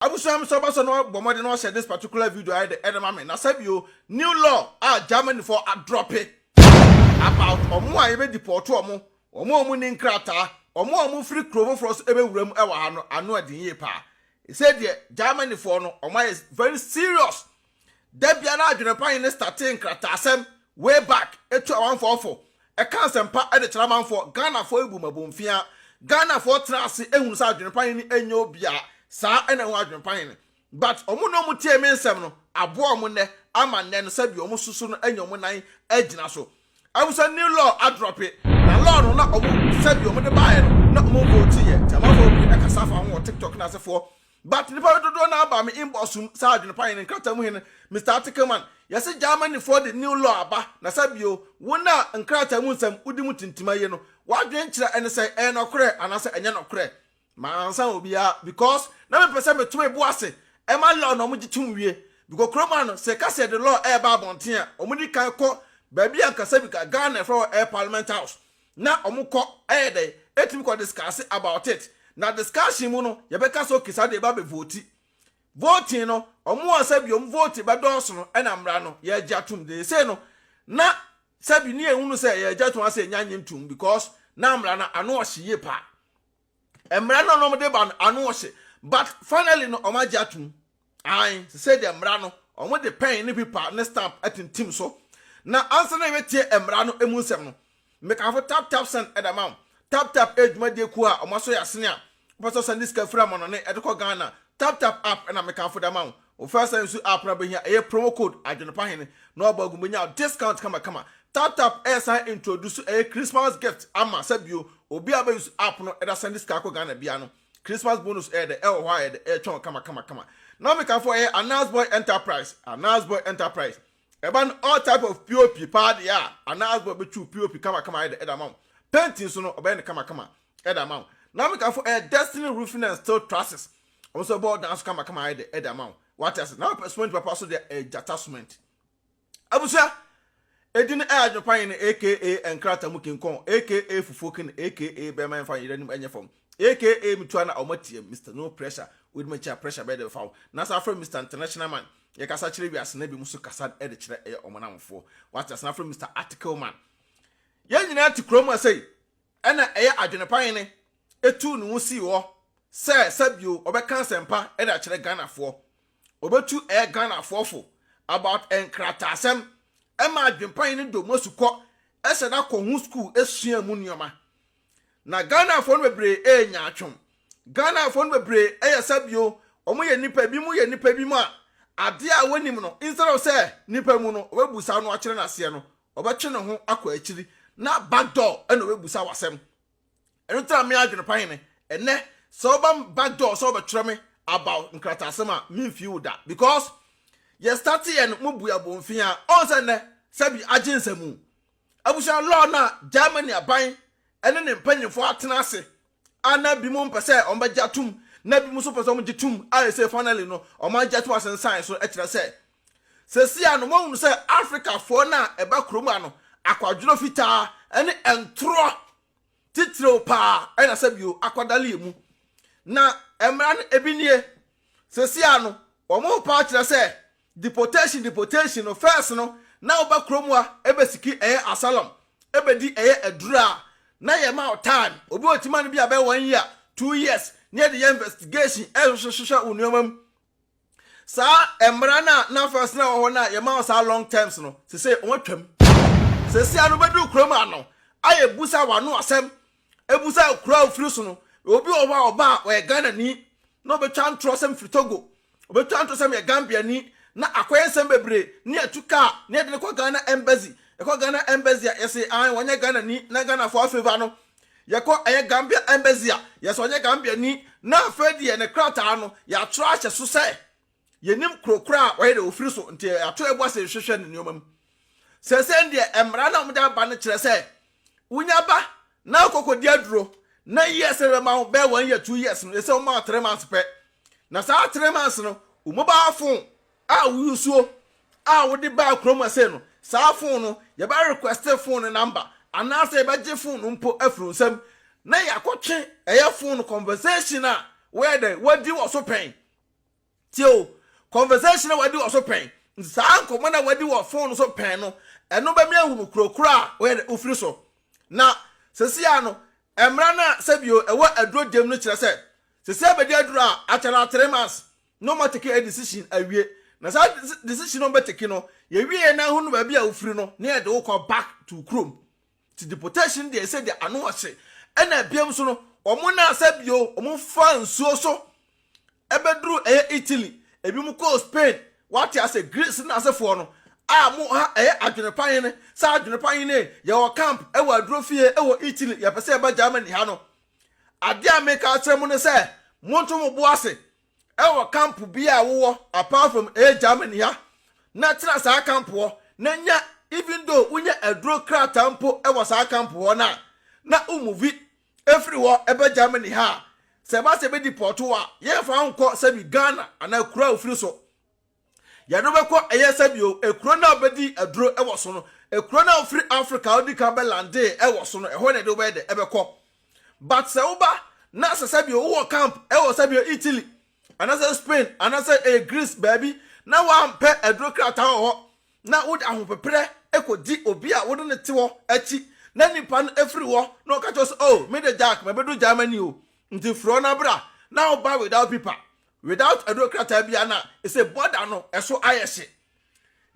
Abusua me sɛ ɔbɛsɔ na wabɔ mmɔden na wahyɛ this particular video ayɛ dɛ ɛde ma me. Na sɛ bio, new law a Germany foɔ adrɔpe about ɔmo a yɛbɛ deport ɔmo, ɔmo a ɔmo nni nkrataa, ɔmo a ɔmo firi kuro foforɔ so ɛbɛwura mu ɛwɔ ha no ano ɛden yie paa. Ɛsei deɛ Germany foɔ no ɔmo ayɛ very serious Da biara adwene pa he ne statee nkrataasɛm, way back, tu amanfoɔ fo, ka asɛmpa de kyerɛ amanfoɔ, Ghanafoɔ bu mmɔbo mfea. Ghanafoɔ tena ase hunu sɛ adwene pa he no nyɛ obia saa na ehu adwene pa he no. But wɔn na wɔtiee me nsɛm no aboa wɔn nnɛ ama nnɛ no sɛdeɛ wɔn susu no anya wɔn nan agyina so. Ahu sɛ new law adrɔpe, na law no na wɔn sɛdeɛ wɔde baeɛ no na wɔvotiiɛ nti amanfoɔ pii kasa fa ho wɔ TikTok no asefoɔ But nipa no dodoɔ no ara baa me inbox mu saa adwene pa hene nkrata mu hene Mister Article man yɛse Germany foɔ de new law aba na sɛ bio wo no a nkrata mu nsɛm wodi mu tintim ayie no wadwene kyerɛ ɛne sɛn ɛyɛ nɔkorɛ anaasɛ ɛnyɛ nɔkorɛ mansa obiara because na me pɛsɛ me to me bo ase ɛma law na ɔmo gye tom wie bcause kuro man no sɛ yɛka sɛ yɛde law ɛɛba abɔnten a ɔmo di kan kɔ baabi ankasa bcause Ghana yɛfrɛ hɔ ɛyɛ parliament house na ɔmo kɔ ɛyɛ dɛn ɛtumi kɔ discase about it na discussion mu no yɛbɛka sɛ ok saa deɛ ɛbɛba bɛ vote voting no ɔmo a sɛbi ɔmo vote bɛdɔɔso no ɛna mmra no yɛgye atom dee sei no na sɛbi ne yɛhunu sɛ yɛgye atom asɛ yɛnya nye ntom because na mmra no ano ɔhye yie paa. Mmara no na wɔde ba no ano ɔhye but finally no wɔagye atom. Ae, sesei deɛ mmara no wɔde pɛn ne pipa ne stamp atintim so. Na ansa na yɛbɛtie mmara no mu nsɛm no, mekamfo Tap Tap Send de ama wo. Tap Tap yɛ dwumadie kuo a wɔasɔ yɛn asene a wopɛ sɛ wosɛnde sika firi amannɔne de kɔ Ghana. Tap Tap app na mekamfo de ama wo. Wofɛ sɛ nsu app na wobɛhia ɛyɛ promo code adwenepa hene na wabɔ agu mu bɛnya discount kamakama. Taptap ɛresan introduce ɛyɛ Christmas gift ama sɛ bio obi a ɔbɛ use app no ɛda sɛnde sika kɔ Ghana biara no Christmas bonus ɛyɛ dɛ ɛwɔ hɔ a ɛyɛ dɛ ɛretwɛn wo kamakamakama. Na mekafo ɛyɛ Anazboy Enterprise Anazboy Enterprise ɛba no all type of POP paa deɛ a Anazboy bɛtwi wo POP kamakama ayɛ dɛ ɛde ama wo. Painting nso no ɔbɛyɛ no kamakama. ɛde ama wo na meka fo ɛyɛ destiny roofing and steel trusses wɔn nso ɛbɔ dan so kamakama ayɛ de ɛde ama wo wate ase na wopɛ cement papa so deɛ ɛyɛ gyata cement abusua ɛdi no ɛyɛ adwene pan yɛn aka nkrata mu kinkɔn aka fufuo kin aka bɛma yɛmfa yɛn anim ɛnyɛ fam aka metua na ɔma tie mr no pressure wodi m'akyi a pressure bɛyɛ de bɛfa wo na saa afrɛ mr international man yɛkasa kyerɛ wiase na bi mu so kasa ɛde kyerɛ ɛyɛ ɔmanamfoɔ wate ase na afrɛ mr article man yɛn nyinaa te kurom ɛsɛ Ɛnna ɛyɛ adwene pa hene tuu ne ho sii hɔ sɛ sɛ bio ɔbɛka nsɛmpa de akyerɛ Ghanafoɔ. Ɔbɛtu ɛyɛ Ghanafoɔ fo about nkrataasɛm ɛma adwene pa hene dɔ mu asukɔ ɛsɛ da kɔ ho sukuu sua mu nnoɔma. Na Ghanafoɔ no bebree ɛyɛ nyaatwom. Ghanafoɔ no bebree ɛyɛ sɛ bio wɔn yɛ nnipa ebinom yɛ nnipa ebinom a adeɛ a wɔnim no instead of sɛ nnipa mu no ɔbɛbusa no akyerɛ no aseɛ no ɔbɛtwe ne ho akɔ akyiri na back door ɛna ɔbɛbusa wo asɛm ɛno tena me adwene pa hene ɛnɛ sɛ ɔba back door sɛ ɔbɛtwerɛ me about nkrataa asɛm a memfii wo da because yɛ start yɛ no mo bu abɔnfin a ɔn sɛ nnɛ sɛbi agye nsɛmu abusua law no a Germany aban ɛne ne mpanyinfoɔ atena ase a na bi mo mpɛ sɛ ɔmbɛgye atom na bi mo nso pɛ sɛ ɔmgye tom a ɛsɛ finally no ɔmagye atom asensan so ɛkyerɛ sɛ Sesia no moahunu sɛ Afrikafoɔ no a ɛba kurom ha no akwadworɔ fitaa ne ntorɔ titiriw paa na sɛ bio akwadale emu. Na mmara no ebi nie. Sesia no wɔn ho paa kyerɛ sɛ deportation deportation no first no na woba kurom ha ɛbɛsiki ɛyɛ asylum ɛbɛdi ɛyɛ aduru a na yɛma wo time obi wɔ tima no bi a bɛyɛ one year two years na yɛde yɛ investigation ɛhwehwɛ hwehwɛ wo nneɛma mu Saa mmara no a na first na ɛwɔ hɔ no a yɛma wɔn saa long terms no, seesei wɔatwam. Seesei ano bɛduru kurom ano a yɛbusa wɔn ano asɛm, ɛbusa kuro a wofiri so no. Obi wɔ hɔ a ɔba a ɔyɛ Ghanani na ɔbɛtwa ntorɔ sɛ mefiri Togo, ɔbɛtwa ntorɔ sɛ meyɛ Gambiani na akɔyɛ nsɛm bebree na yɛatu kaa na yɛde no kɔ Ghana Embassy. Ɛkɔ Ghana Embassy a yɛse ae wɔnyɛ Ghanani na Ghanafoɔ afavor no Yɛkɔ ɛyɛ Gambia Embassy a, yɛ sɛ ɔnyɛ Gambiani, na afei deɛ ne krataa no, yɛatwerɛ ahyɛ so sɛ yɛnim kuro korɔ a ɔyɛ deɛ ɔfiri so, nti yɛato yɛbo ase rehwehwɛ ne nneɛma mu. Seesei deɛ mmara no a wɔde aba no kyerɛ sɛ wonya ba na wokɔkɔdi aduro, na years a yɛbɛma wo bɛyɛ one year, two years no, yɛsɛ woma wo three months pɛ. Na saa three months no, wo mobile phone A wo nsuo a wode baa kuro mu ɛsei no, saa phone no yɛbɛ request phone no number anaasɛ yɛbɛgye phone no mpo afiri wo nsam na yɛakɔtwe ɛyɛ phone conversation a woayɛ dɛn wadi wɔ so pɛn. Tie o, conversation a wadi wɔ so pɛn, nti saa nkɔmmɔ no a wadi wɔ phone no so pɛn no, ɛno bɛme ahu no kuro korɔ a woyɛ dɛn wofiri so. Na sesei ara no, mmara no a sɛbio ɛwɔ aduro gyem no kyerɛ sɛ, sesei abɛdi aduro a akyɛ no ara three months, na ɔma teke a decision awie na saa decision a ɔbɛ teke no yɛ wie yɛ na ɛho no baabi a wofiri no na yɛde wo kɔ back to kurom ti deportation deɛ ɛsɛ deɛ ano ɔhye ɛna biam so no ɔmo na asɛ bio ɔmo fa nsuo so ɛbɛduru ɛyɛ Italy ebi mo kɔɔ Spain wate asɛ Greece na asefoɔ no a mo ha ɛyɛ adwene pa hene sɛ adwene pa hene yɛwɔ camp ɛwɔ aduro fie ɛwɔ Italy yɛpɛ sɛ ɛba Germany ha no Adeɛ a meka akyerɛ mo ne sɛ, monto mo bo ase wɔ camp bi a wowɔ apart from ɛyɛ Germany ha, na tena saa camp hɔ, na nya even though wonya aduro krataa mpo wɔ saa camp hɔ no a, na wo move ɛfiri hɔ ɛbɛ Germany ha a, sɛ ɛba sɛ ɛbɛdeport wo a, yɛmfa wo nkɔ sɛbi Ghana anaa kuro a wofiri so. Yɛne wo bɛkɔ, ɛyɛ sɛ bio, ekuro no a wobɛdii aduro wɔ so no, ekuro no a wofiri Afrika a wodikan bɛ landee wɔ so no, ɛhɔ na yɛde wo bɛyɛ dɛ, ɛbɛkɔ. But sɛ woba, na asɛ sɛ bio wowɔ camp wɔ sɛ bio Italy, anasɛ Spain, anasɛ ɛyɛ Greece baabi, na woampɛ aduro krataa wɔ hɔ, na wode ahopeprɛ kɔdi obi a wode no te hɔ akyi, na nipa no firi hɔ, na ɔka kyerɛ wo sɛ, oh, me de Jack, mabɛduru Germany o, nti firi hɔ na bra, na woba without pipa, Without aduro krataa biara na ɛsɛ border no ɛso ayɛ hye.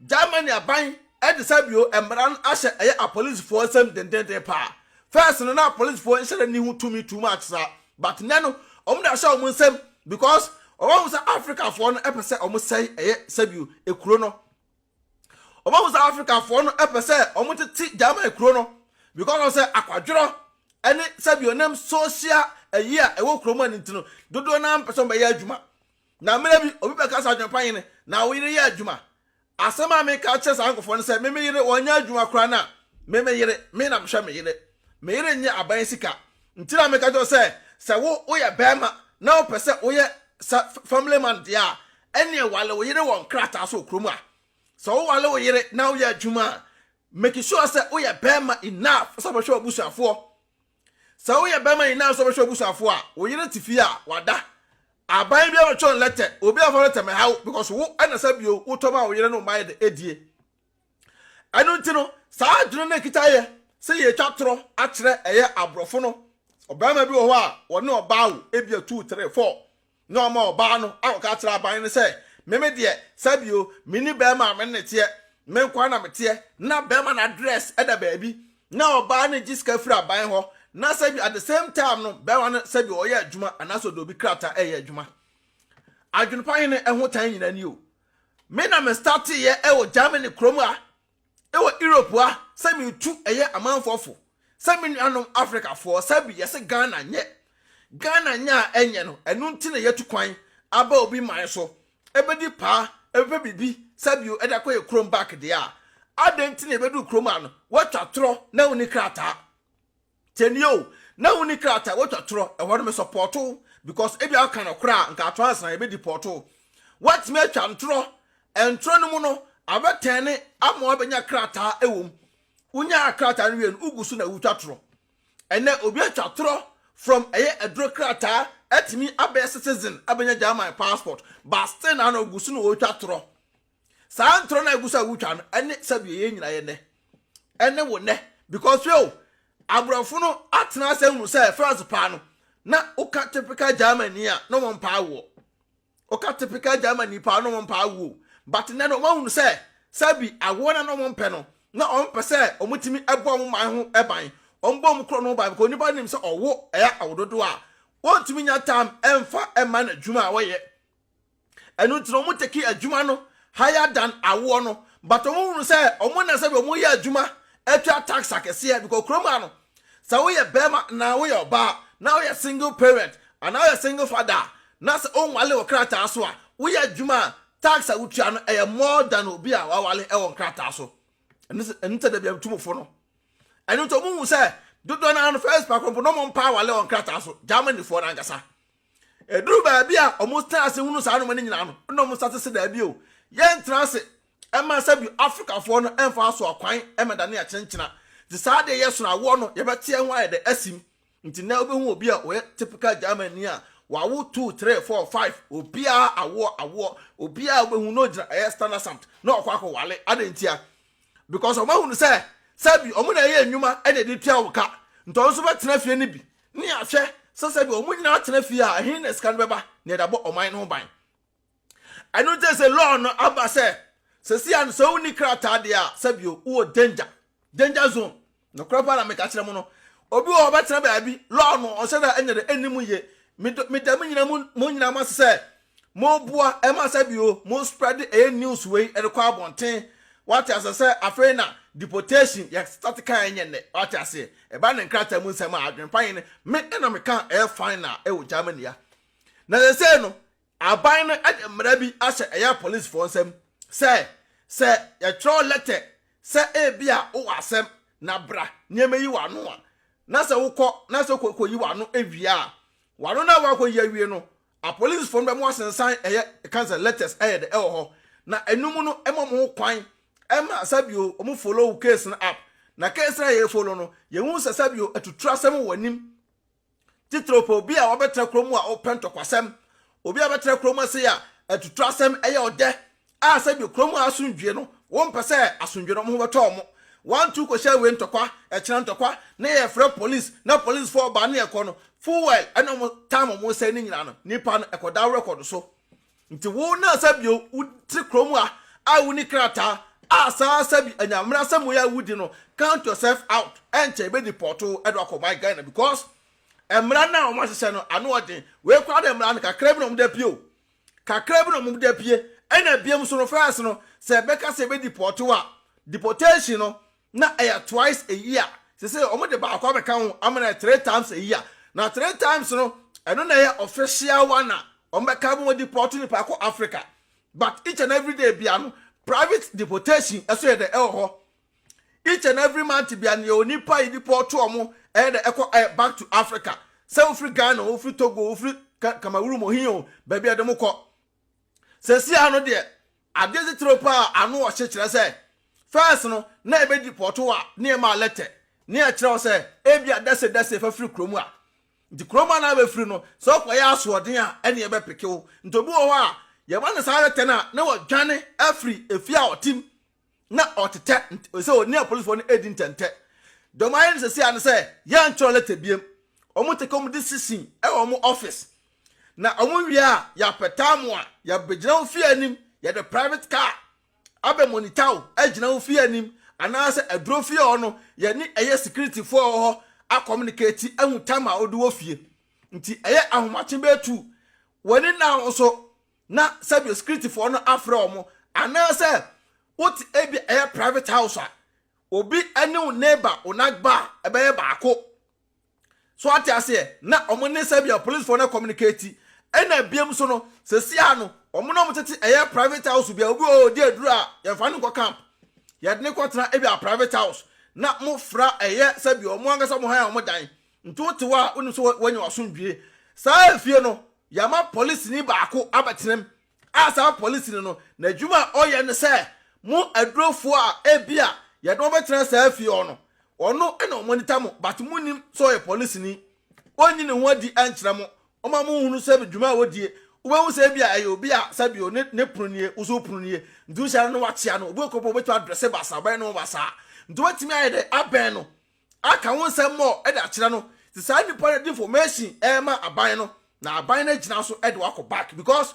Germany aban ɛde sɛ bio mmara no ahyɛ ɛyɛ apolisifoɔ nsam dendenden paa. First no na apolisifoɔ nhyɛrɛ ni ho tumi too much saa but nnɛ no wɔn de ahyɛ wɔn nsam because wɔn ahu sɛ Africafoɔ no ɛpɛ sɛ wɔn sɛe ɛyɛ sɛ bio ekuro no. Wɔbɛhu sɛ Afrikafoɔ no pɛ sɛ wɔtete German kuro no because of sɛ akwadworɔ ne sɛbi ɔnam social ayi a ɛwɔ kuro mu a no nti no, dodoɔ no ara mpɛ sɛ wɔbɛyɛ adwuma. Na mmerɛ bi, obi bɛka sɛ Adwempa Hene, na wo yere yɛ adwuma. Asɛm a meka akyerɛ saa nkurɔfoɔ no sɛ me me yere wɔnyɛ adwuma koraa no a, me me yere, me na mehwɛ me yere. Me yere nyɛ aban sika. Nti na meka kyerɛ wo sɛ, sɛ wo woyɛ barima na wopɛ sɛ woyɛ sɛ family man deɛ a, ɛneɛ wale wo yere wɔ nkrataa so wɔ kurom a. Sɛ wowale wo yere na woyɛ adwuma a, make sure sɛ woyɛ barima enough sɛ wobɛhwɛ w'abusuafoɔ. Sɛ woyɛ barima enough sɛ wobɛhwɛ w'abusuafoɔ a, wo yere te fie a, wada. Aban biara bɛtwerɛ no lɛtɛ, obi amfa lɛtɛ mmɛha wo because wo na sɛ bio wotɔ maa wo yere ne wo mma yɛ dɛ, die. ɛno nti no saa adwene no ɛkita yɛ sɛ yɛtwa torɔ akyerɛ ɛyɛ aborɔfo no ɔbarima bi wɔ hɔ a wɔne ɔbaa wo ebi atuu tere fɔ na ɔma ɔbaa no akɔka akyerɛ aban no sɛ meme deɛ sɛbio mene bɛrima a mene ne teɛ me nkwa na meteɛ na bɛrima no address ɛda baabi na ɔbaa no gye sika firi aban hɔ na sɛbi at the same time no bɛrima no sɛbi ɔyɛ adwuma anaasɛ ɔde obi krataa ɛyɛ adwuma adwene pa hene ɛho tan nyina ni o Me na me startee yɛ ɛwɔ Germany kurom a ɛwɔ Europe a sɛ me tu ɛyɛ amanfoɔ fo sɛ me nuanom Africa foɔ sɛ bi yɛse Ghana nyɛ Ghana nyɛ a ɛnyɛ no ɛno nti na yɛtu kwan aba obi man so ɛbɛdi paa ɛbɛpɛ biribi sɛ bio ɛde akɔ yɛ kurom back deɛ a adɛn nti na ɛbɛduru kurom a no watwa torɔ na wonni krataa Tie nie o, na wonni krataa a wotwa torɔ wɔ no, me sɔpɔɔto wo because ebia woka nɔkorɛ a nka atorɔ ansa yɛbɛdi pɔɔto wo. Woatumi atwa ntorɔ, ntorɔ no mu no abɛtɛne ama woabɛnya krataa wɔ mu. Wonyaa krataa no wie no, wogu so na wotwa torɔ. Ɛnɛ obi atwa torɔ from ɛyɛ aduro krataa atumi abɛyɛ citizen abɛnya German passport but still na na ogu so na ɔretwa torɔ. saa ntorɔ no a ɛgu so a wotwa no ɛne sɛdeɛ yɛn nyinaa yɛ nnɛ ɛne wo nnɛ because o aborɔfo no atena ase ahunu sɛ france paa no na woka typical germany a na wɔn paa woɔ woka typical germany paa na wɔn paa woɔ but nnɛ no wɔahunu sɛ sɛbi awoɔ na na wɔn pɛ no na wɔn pɛ sɛ wɔn tumi ɛbɔ wɔn man ho ɛban wɔn bɔ wɔn korɔ no ho ban because onipa nim sɛ ɔwo ɛyɛ awododo a wɔntumi nya tam ɛnfa ɛma n'adwuma a wɔyɛ Ɛno nti na wɔn tekee adwuma no higher than awoɔ no but wɔn hunu sɛ wɔn na sɛbi wɔn yɛ adwuma atwa tax akɛseɛ because kurom ha no sɛ woyɛ bɛrima anaa woyɛ ɔbaa na woyɛ single parent anaa woyɛ single father a na sɛ wɔnwale wɔ krataa so a woyɛ adwuma a tax a wotua no ɛyɛ more than obi a wawale ɛwɔ nkrataa so ɛno sɛ ɛno sɛ dabi atumufo no ɛno nti wɔn hu sɛ dodoɔ no ano first pakoro mpo na wɔn mpa awale wɔ nkrataa so Germanyfoɔ no ankasa Ɛduru baabi a wɔtena ase hunu saa nnoɔma no nyinaa no, na wɔsa te se daabi o, yɛntena ase ɛma sɛ bi Afrikafoɔ no ɛmfa aso akwan ɛma dane akyenkyena. Nti saa deɛ yɛ sono awoɔ no, yɛbɛte ɛho ayɛ dɛ asim. Nti nɛ wobɛhu obi a ɔyɛ typical German ni a, wawo two, three, four, five, obiara awoɔ, awoɔ, obiara wobɛhu na ɔgyina ɛyɛ Standarsamt na ɔkɔ akɔ wale. Adɛn ntia? Because wɔahunu sɛ sɛ bi wɔn na ɛyɛ nnwuma ɛna ɛde tua wo ka. Nti wɔn nso bɛtena fie no bi Nea hwɛ sɛ sɛdeɛ wɔn nyinaa tena fie a, ɛhe na sika no bɛba na ɛde abɔ ɔman no ho ban? Ɛno nti sɛ law no aba sɛ sɛsi a no sɛ wonni krataa deɛ a, sɛbio wowɔ danger, danger zone. Nokorɛ paa na meka kyerɛ mo no, obi wɔ hɔ ɔbɛtena baabi, law no ɔhyɛ da ɛnyɛ dɛ ɛnni mu yie. Meda mo nyinaa mo nyinaa mo ase sɛ Mo boa ɛma sɛ bio mo spread ɛyɛ news wei ɛde kɔ abɔnten wate aseɛ sɛ afei na deportation yɛ start kan ɛnyɛ nnɛ wate aseɛ ɛba ne nkrataa mu nsɛm a adwene pa yɛn me ɛna me ka ɛyɛ final ɛwɔ Germany ya na sɛsɛ no aban no ɛde mmara bi ahyɛ ɛyɛ police foɔ nsɛm sɛ sɛ yɛtwerɛ letter sɛ ebi a wowɔ asɛm na bra nneɛma yi wɔ ano a na sɛ wokɔ na sɛ wokɔ yi wɔ ano ɛwie a wano na wakɔ yi awie no Apolisifo no bɛma wɔasensan ɛyɛ ɛka sɛ letters ɛyɛ dɛ ɛwɔ hɔ na ɛnum no ɛma wɔn ho kwan ɛma sɛbio wɔn follow wo case no up na case no a yɛ follow no yɛ hu sɛ sɛbio atuturu asɛm wɔ anim titiriw pɛ obi a wabɛtena kurom a ɔpɛ ntɔkwasɛm obi a bɛtena kurom ase a atuturu asɛm ɛyɛ ɔdɛ a sɛdeɛ kurom ha asomdwoeɛ no, wɔmpɛ sɛ asomdwoeɛ no wɔn ho bɛtɔ wɔn. Wɔantu kɔhyɛ wei ntɔkwa, ɛkyena ntɔkwa, na yɛfrɛ polis, na polisfoɔ ba na yɛkɔ no, fuel ɛna wɔn time wɔn sɛe ne nyinaa no, nnipa no ɛkɔda wo record so. Nti wo na sɛ bio wote kurom ha a wonni krataa a saa sɛ bi anyammerɛ asɛm wei a wodi no, count yourself out, ɛnkyɛ yɛbɛdeport wo ɛde wakɔ my Ghana because mmara no a wɔahyehyɛ no ano ɔden, wei koraa de mmara no kakra bi na wɔde apue o. Kakra bi na wɔn da pue, ɛna biam nso no first no sɛ bɛka sɛ bɛ deport wo a, deportation no na ɛyɛ twice a year, sesei wɔn de baako abɛka ho ama no ayɛ three times a year, na three times no ɛno na ɛyɛ official one a wɔn bɛka ma wɔn deport nipa kɔ Africa, but each and every day bia no private deportation ɛso yɛ dɛ ɛwɔ hɔ. each and every month bia ne onipa yi nipa ɔto ɔmo ɛyɛ dɛ ɛkɔ ɛyɛ back to africa sɛ wofiri ghana o wofiri togo o wofiri cameroon o hin o baabi a ɛde mo kɔ sɛsi ano deɛ adeɛ titire paa ano ɔhye kyerɛ sɛ fɛs no na ɛbɛdi pɔto a ne ɛma alɛtɛ ne ɛkyerɛ wo sɛ ebi a dɛse dɛse fa firi kurom a nti kurom a na abɛfiri no sɛ ɔkɔyɛ asoɔden a ɛne ɛbɛpeke wo nti obi wɔ hɔ a yɛma no saa alɛtɛ no a na wadwane afiri efie a ɔtem na ɔtetɛ sɛ ɔne apolisifoɔ no redi ntɛntɛ. Deɛ wɔayɛ no seesei ne sɛ yɛntwerɛ lɛtɛ biam. Wɔte kɔm de sisi wɔ wɔn office. Na wɔwie a, yɛapɛtaa mo a, yɛabɛgyina wo fie anim, yɛde private car abɛ monitor wo agyina wo fie anim anaasɛ aduro fie hɔ no, yɛne ɛyɛ securityfoɔ a ɛwɔ hɔ akɔmunikati ahu time a wode wɔ fie. Nti ɛyɛ ahomakye bɛtu w'ani na wo nso na sɛdeɛ securityfoɔ no afrɛ wɔn anaasɛ wote ebi ɛyɛ private house a obi ne wo neighbor wo nagba a ɛbɛyɛ baako so ate aseɛ na wɔn ne sɛdeɛ policefoɔ no communicate ɛna biam so no sɛsia no wɔn na wɔn tete ɛyɛ private house bia obi wɔ ɔdi aduro a yɛmfa no nkɔ camp yɛde ne kɔtena ebi a private house na mo fra ɛyɛ sɛdeɛ wɔn ankasa mo han a wɔn dan nti wote hɔ a wonim sɛ wɔanya wasomdwie saa efie no Yɛama polisini baako abɛtenam a saa polisini no n'adwuma a ɔyɛ ne sɛ mo adurofoɔ a ebia yɛde wɔn bɛtena saa fie hɔ no, ɔno na ɔmonita mo but monnim sɛ ɔyɛ polisini. Ɔnyi ne ho adi nkyerɛ mo. Ɔma monhunu sɛ dwuma a ɔdie. Wobɛhu sɛ ebia ɛyɛ obi a sɛbio ne ne pono nie, wo nso wo pono nie. Nti wohyia no na woakyea no. Obi wɔ kuro pɔ a wobɛtumi adrɛse basaa, ɔbɛyɛ ne ho basaa. Nti wobɛtumi ayɛ dɛn abɛn no aka wo nsɛm mɔɔ de akyerɛ no sɛ saa nipa no de information ɛrema aban no na aban no agyina so de wakɔ back because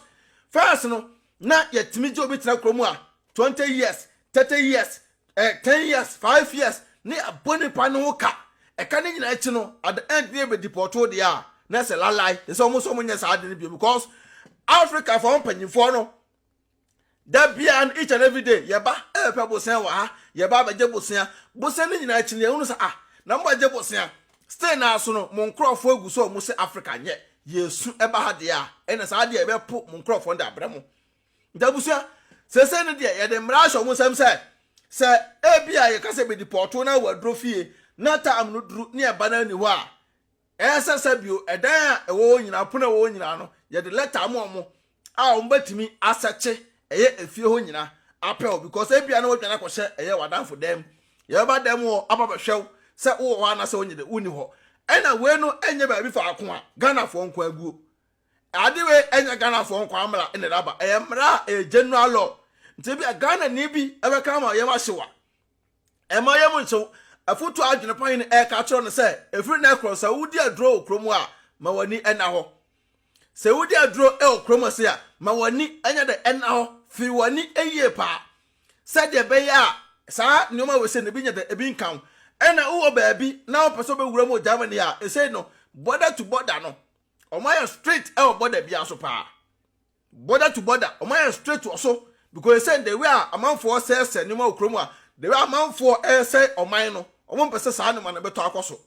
first no na yɛtumi gye obi tena kurom a twenty years thirty years eh, ten years five years ne abɔ nipa no ho ka ɛka ne nyinaa akyi no at the end ne yɛ bɛ depɔtoo deɛ a na ɛsɛ lalai ɛsɛ wɔn nso wɔn nyɛ saa ade no bio because africa fɔ mpanyinfoɔ no. Da biara no, each and every day, yɛba ɛbɛpɛ bosea wɔ ha, yɛba abɛgye bosea. Bosea no nyinaa akyi no, yɛhunu sɛ, ah, na mobɛgye bosea. Still no ara so no, mo nkurɔfoɔ agu so a wɔhyɛ Africa nyɛ. Yɛsu ba ha deɛ a, ɛnna saa deɛ yɛbɛpo mo nkurɔfoɔ no de abrɛ mo. Nti abusua, seesei no deɛ, yɛde mmara ahyɛ wɔn nsam sɛ, sɛ ebia yɛka sɛ bɛdipɔɔto na wɔaduro fie, na tam no duru na yɛba no anni hɔ a, Ɛsɛ sɛ bio, ɛdan a ɛwɔ hɔ nyinaa, pon a ɛwɔ hɔ nyinaa no, yɛde lɛta ama wɔn a wɔbɛtumi asɛkye ɛyɛ efie hɔ nyinaa apɛ hɔ because ebia na wɔadwane akɔhyɛ ɛyɛ w'adamfo dan mu. Yɛbɛba dan mu hɔ aba abɛhwɛ wo sɛ wowɔ hɔ anaasɛ wonyɛ dɛ, wonni hɔ. Ɛna wei no nyɛ baabi faako a Ghanafoɔ nko ara guo. Ade wei nyɛ Ghanafoɔ nko ara mmara na ɛde aba, ɛyɛ mmara a ɛyɛ general law. Nti ebia Ghanani bi bɛka ama yɛn ahye wo a, Ɛmma yɛn mu ntew. Afotu a adwene pa he no ɛreka akyerɛ no sɛ, ɛfiri nnɛ korɔ, sɛ wodi aduro wɔ kurom a, ma w'ani nna hɔ. Sɛ wodi aduro wɔ kurom ha sei a, ma w'ani nyɛ dɛ nna hɔ. Firi w'ani yie paa sɛdeɛ ɛbɛyɛ a saa nnoɔma wei sei no ebi nyɛ dɛ, ebi nka wo. Ɛna wowɔ baabi na wopɛ sɛ wobɛwura mu wɔ Germany ha a, ɛsei no, border to border no, wɔayɛ strict wɔ border biara so paa. Border to border ɔmo ayɛ straight wɔ so because they say the way a amanfoɔ sɛɛsɛ nneɛma wɔ kurom a the way amanfoɔ ɛresɛe ɔman no ɔmo mpɛ sɛ saa nneɛma no bɛtɔ akɔ so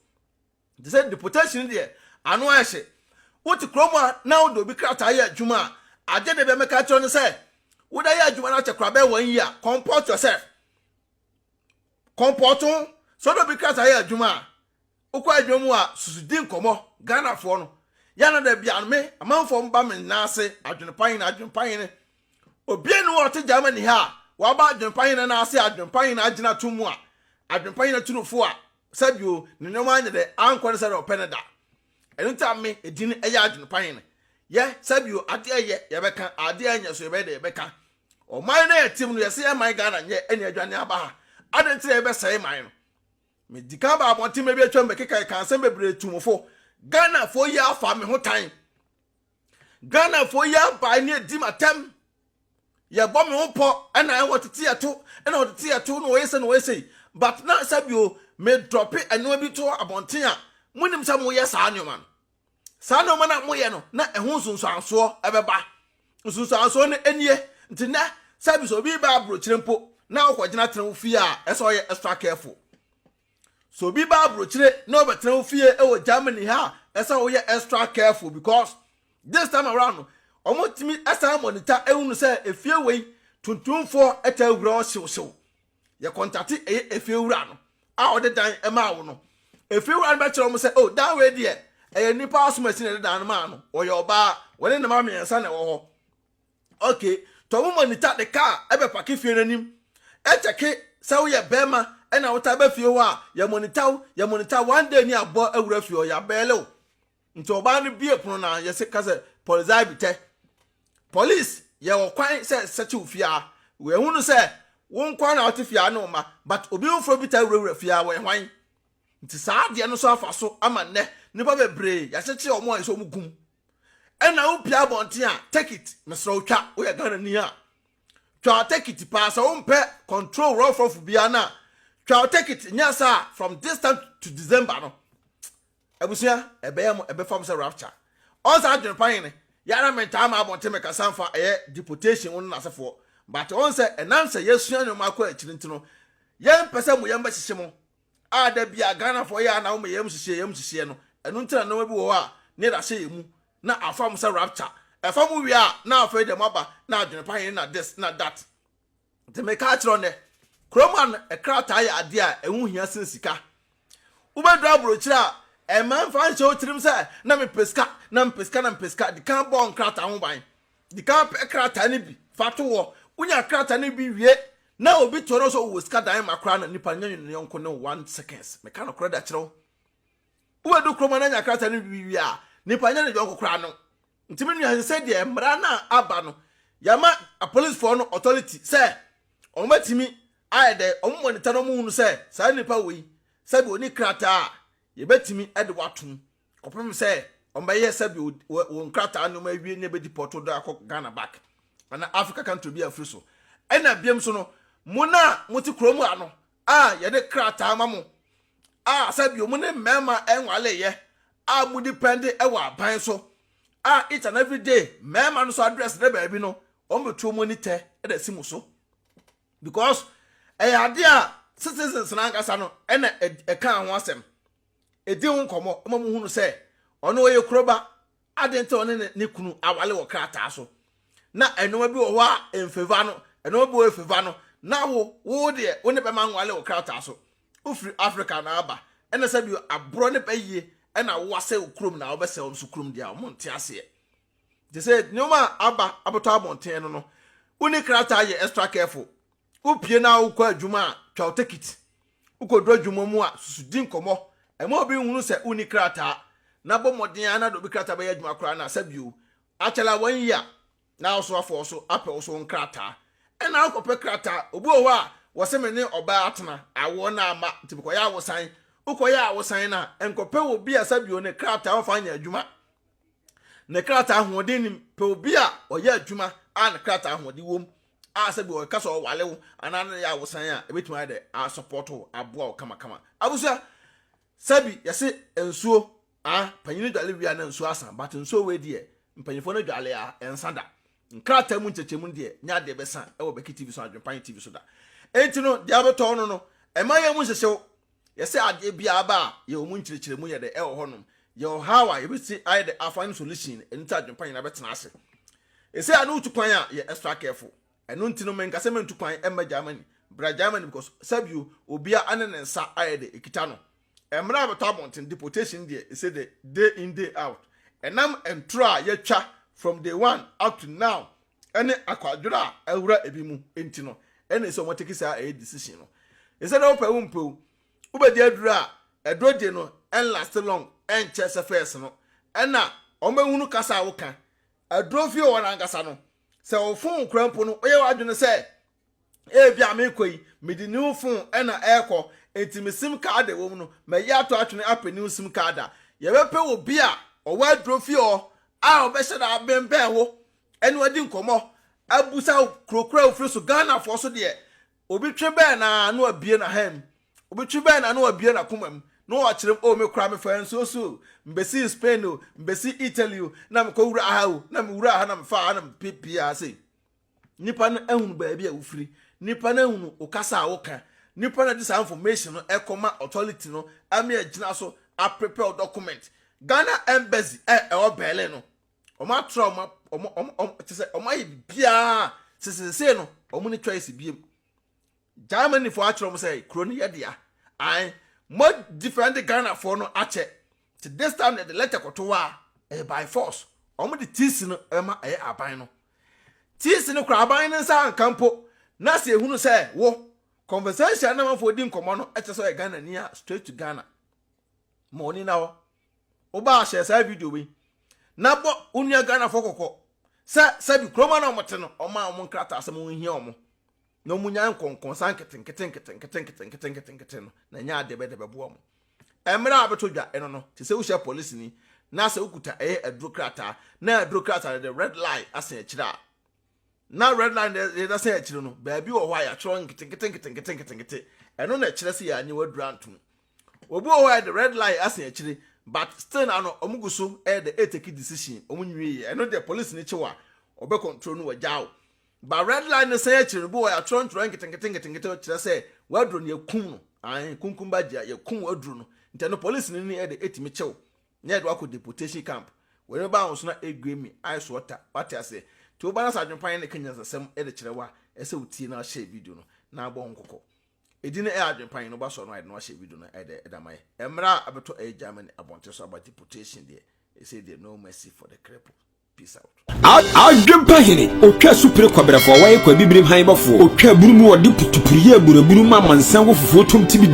te sɛ deportation deɛ ano ayɛ hye wote kurom a na wode obi krataa yɛ adwuma a agye de bɛ mɛka kyerɛ no sɛ wode yɛ adwuma no akyɛ kora bɛn wɔn yi a comport yourself comport ho sɛ wode obi krataa yɛ adwuma a Wokɔ adwuma mu a susu di nkɔmmɔ, Ghanafoɔ no yɛ ana da biaa no me amanfoɔ mo ba me nan ase adwenpa hene adwenpa hene obia ni hɔ a ɔte Germany ha a waba adwenpa hene nan ase adwenpa hene agyina to mu a adwenpa hene turufo a sɛbio ne nneɛma anyɛ dɛ ankɔ ne sɛdeɛ ɔpɛ ne da ɛno nti a me edin ɛyɛ adwenpa hene yɛ sɛbio adeɛ ɛyɛ yɛbɛka adeɛ ɛnyɛ so yɛbɛyɛ dɛ yɛbɛka ɔman no a yɛtem no yɛsɛ yɛ man Ghana nyɛ ɛne adwane aba ha adɛn nti na yɛbɛsɛe man no Me di kan ba abɔnten mɛ bi atwa mu bɛkeka ɛka nsɛm bebree tu mo fo. Ghana foɔ yi afa me ho tan. Ghana foɔ yi abae ne adi ma tɛm. Yɛbɔ me ho pɔ ɛna ɛwɔ tete ɛto ɛna wɔ tete ɛto na wɔyɛ sɛ na wɔyɛ sɛ yi. But na sɛbio me drɔpe ɛnoa bi to abɔnten a mo nim sɛ mo yɛ saa nneɛma no. saa nneɛma no a moyɛ no na ɛho nsunsuansoɔ ɛbɛba nsunsuansoɔ no nie nti nɛ service obi ba aburokyire mpo na ɔkɔgyina tena wo fie a ɛsɛ ɔyɛ extra careful so obi ba aburokyire na ɔbɛtena wo fie ɛwɔ Germany ha a ɛsɛ ɔyɛ extra careful because this time around no wɔtumi ɛsan monitor ɛhunu sɛ efie wei tuntumfoɔ ɛtaa wura ɔhyewhyew yɛkɔntate ɛyɛ efiewura no a ɔde dan maa wo no efiewura no bɛkyerɛ wɔn sɛ o oh, dan wei deɛ ɛyɛ nipa asomasi na ɛde dan no maa no ɔyɛ ɔbaa wɔne ne mma mmiɛnsa na ɛwɔ hɔ okay tɔn mu monita de kaa ɛbɛpake fie n'anim ɛkyɛke sɛ woyɛ bɛrima ɛna wota bɛ fie hɔ a yɛ monita wo yɛ monita one day ni abɔ awura fie hɔ yɛ abɛɛle wo Nti ɔbaa no bie pono no a yɛse kasɛ Polizei bi tɛ Police yɛ wɔ kwan sɛ sɛkye wo fie a wɔ hunu sɛ wo nkoa na wote fie a ne wo mma but obi foforɔ bi taa wurawura fie a wɔ hwan nti saa adeɛ no so afa so ama nnɛ nipa bebree yɛakyekye wɔn a yɛsɛ wɔn gum ɛna wo pia abɔnten a take it mesrɛ wo twa wo yɛ Ghana ni a twa take it paa sɛ wo mpɛ control rough rough bia na twa take it nyɛ saa from this time to December no Abusua ɛbɛyɛ mo ɛbɛfa mo sɛ rapture ɔn saa adwene pa hene yɛ ara me ntaa ma abɔnten me kasa nfa ɛyɛ deportation wo ne nasefoɔ but ɔn sɛ ɛnam sɛ yɛ sua nnoɔma akɔ akyiri nti no yɛ mpɛ sɛ mo yɛm bɛ hyehye mo a da bia Ghanafoɔ yɛ a na wo me yɛm hyehyeɛ yɛm hyehyeɛ no ɛno nti na nnoɔma bi wɔ hɔ a ne yɛda hyɛ yɛ mu na afa mo sɛ rapture ɛfa mo wie a na afei deɛ mo aba na adwene pa hene na this na that Nti meka akyerɛ wo nnɛ, kurom ha no, krataa yɛ adeɛ a ɛho hia sen sika. Wobɛduru aburokyire a, mma mfa nhyɛ wo tirim sɛ, na mepɛ sika, na mepɛ sika, na mepɛ sika. Di kan bɔ nkrataa ho ban. Di kan pɛ krataa no bi fa to hɔ. Wonya krataa no bi wie na obi tɔre wo sɛ ɔwɔ sika dan ma koraa no, nipa no nyɛ ne yɔnko ne wo one seconds. Meka nokorɛ de akyerɛ wo. Wobɛduru kurom ha na anya krataa no bi wie a, nipa nyɛ ne yɔnko koraa no. Nti me nua ɛsɛ sɛ deɛ mmara no a aba no yɛma apolicefoɔ no authority sɛ wɔn bɛtumi ayɛ dɛ wɔn monitor na wɔn hunu sɛ saa nipa wei sɛbi ɔni krataa a yɛbɛtumi de watom kɔpem sɛ wɔn bɛyɛ sɛbi wɔn krataa nneɛma awie ne ɛbɛdi pɔtɔ do akɔ Ghana back ana Africa country bi afiri so ɛna biam so no mo na mo te kurom ano a yɛde krataa ma mo a sɛbio mo ne mmarima nwaleeɛ a mo depend wɔ aban so a each and every day mmarima no so address ne baabi no wɔn bɛtuo mo ani tɛ ɛda si mo so because ɛyɛ adeɛ a citizens no ankasa no ɛna ɛka ho asɛm di ho nkɔmmɔ ma muhunu sɛ ɔno ɔyɛ kuro ba. Adɛn nti ɔne ne, ne kunu awale wɔ krataa so? Na nneɛma bi wɔ hɔ a ɛmfeva no, nneɛma bi wɔ ɛfeva no. Na wo, wo deɛ, wo ne bɛma nwale wɔ krataa so. Wofiri Afrika na aba. Ɛna sɛ bio, aborɔ ne bɛyie ɛna wo asɛe wo kurom na wobɛsɛe wɔn nso kurom deɛ a, wɔn nte aseɛ. Nti sɛ nneɛma a aba abɛtɔ abɔnten no no, wonni krataa yɛ extra careful. Wopue na wokɔ adwuma a, twa wo tekiti. Wukodu adwuma mu a, susu di nkɔmmɔ. Mma obi nhunu sɛ wunni krataa, na bɔ mmɔden ara na de obi krataa bɛyɛ adwuma koraa na asa bio. Akyɛla wanyi a, na wo soafoɔ nso apɛ wo so nkrataa. Ɛnna wokɔpɛ krataa. Obi wɔ hɔ a, wɔse me ne ɔbaa atena, awoɔ no amma, nti mekɔyɛ awosan. Wokɔyɛ awosan no a, nkɔpɛ obi a asa bio ne krataa mfa nyɛ adwuma. ne krataa ahoɔden nim. Pɛ obi a ɔyɛ adwuma a ne krataa ahoɔden wom a sɛ bi ɔka sɛ ɔwale wo anaa ne yɛ awosan a ebetumi ayɛ dɛ asɔpɔto wo aboa wo kamakama. Abusua sɛ bi yɛse nsuo a panyin dwale wie a na nsuo asa but nsuo wei deɛ mpanyinfoɔ no dwale a ɛnsa da. Nkrataa mu nkyɛkyɛmu no deɛ, nyɛ adeɛ bɛsa wɔ Bɛki TV so anaa Adwempanye TV so da. Enti no, deɛ wobɛtɔ wo no no, mma yɛmmu nhyehye wo. Yɛse adeɛ biara ba a, yɛwɔ mu nkyerɛkyerɛmu yɛ dɛ ɛwɔ hɔnom. Yɛwɔ ɔhaw a, yɛbɛtumi ayɛ dɛ a find solution, ɛno nti Adwempa nyinaa bɛtena ase. Ɛsei a ne wotu kwan a, yɛ extra careful. Ɛno nti no, menka sɛ mentu kwan mma Germany. Bra Germany because sɛbio, obiara ne ne nsa ayɛ dɛ ɛkita no. Mmerɛ a bɛtɔ abɔnten, deportation deɛ, he said day in day out, ɛnam ntorɔ a yɛtwa from day one up to now ɛne akwadworɔ a awura ebi mu nti no ɛna ɛsɛ wɔn take saa ɛyɛ decision no. He said wopɛ wo mpɛ o, wobɛdi aduro a ɛduro deɛ no ɛnlaste long ɛnkyɛ sɛ first no ɛna wɔn bɛhunu kasa a woka. Aduro fie wɔ hɔ no ankasa no sɛ wofon wo koraa mpo no woyɛ w'adwene sɛ Ebia merekɔ yi, mede new fon na ɛrekɔ, enti me sim kaad a ɛwom no, mayi ato atwene apɛ new sim kaad a. Yɛbɛpɛ obi a ɔwɔ aduro fie hɔ a ɔbɛhyɛ da abɛnbɛn wo ne wo adi nkɔmmɔ, abisa wo kuro koro a wofiri so. Ghanafoɔ so deɛ, obi twe bɛn no ara na wabue n'ahan mu, obi twe bɛn no ara na wabue n'akoma mu na ɔrekyerɛ mu, o me koraa mefaa nsuo so o, mebɛsii Spain o, mebɛsii Italy o, na mekɔwuraa ha o, na mewuraa ha na mefaa ha na mepepee ha sei. Nnipa no ahunu baabi a wofiri, nnipa no ahunu wo kasa a woka, nnipa na ɛde saa information no ɛkɔ ma authority no ama agyina so a prepare wo document. Ghana embassy a ɛwɔ Berlin no wɔn atrɔ wɔn wɔn wɔn wɔn kyɛ sɛ wɔn ayɛ biribiara sesesee no wɔn ne choice biem. Germany fo akyerɛ wɔn sɛ kuro no yɛ dea. Ae, mo defend Ghana fo no akyɛ Nti this time na yɛde letter kɔto hɔ a, ɛyɛ by force. Wɔde tiisi no bɛma ɛyɛ aban no. Tiisi no kura aban no nsa anka mpo na sɛ yɛhunu sɛ wo, conversation na amanfoɔ di nkɔmmɔ no kyerɛ sɛ ɔyɛ Ghanani a, straight to Ghana. Ma w'ani nna hɔ. Wobaa hyɛ saa video wei na bɔ wo nua Ghanafoɔ kɔkɔ sɛ sɛbi kurom a na wɔte no, wɔmaa wɔn nkrataa sɛ monhia wɔn. na wɔnya nkɔnkɔnsa nketenkete nketenkete nketenkete nketenkete no na ɛnyɛ adeɛ bɛyɛ dɛ bɛboa wɔn mmerɛ a bɛtɔ dwa ɛno no te sɛ wohyɛ polisini na sɛ wokuta ɛyɛ aduro krataa na aduro krataa no de red line asen akyire a na red line no yɛda sɛn akyire no baabi wɔ hɔ a yɛatwerɛ nketenkete nketenkete nketenkete ɛno na ɛkyerɛ sɛ yɛanye w'aduro antom obi wɔ hɔ a yɛde red line asen akyire but still na no ɔmo gu so ɛyɛ dɛ ɛtaki decision ɔmo nwie yɛ ɛno deɛ polisini kyewa ɔbɛ control no wɔ gyaw But red line no san akyiri no bi wɔ yɛatwerɛ ntwerɛ nketenkete nketenkete kyerɛ sɛ waduro no yɛkum no ae kunkum ba gyia yɛkum waduro no nti ɛno police no ni ɛde ɛtumi kyew na yɛde wakɔ deportation camp wɔde bɛba ahoso na ɛgue mi ae so ɔta wate aseɛ nti woba no sɛ adwempan ne ka nyansasɛm ɛde kyerɛ wa ɛsɛ wotie na ahyɛ video no na abɔ ho nkɔkɔ ɛdi no ɛyɛ adwempan no ba sɔ no ae na wahyɛ video no ɛde ɛda ma yɛ ɛmmerɛ a abɛtɔ ɛyɛ Germany abɔnte so aba deportation deɛ ɛsɛ deɛ no mercy for the cripple Adwempa hene, otwa supire kɔbrɛfoɔ, wɔyɛ kwa bibirim han bɔfoɔ, otwa aburu mu, ɔde putupuru yɛ aburaburu ma amansan wɔ fufuo tom tibidi.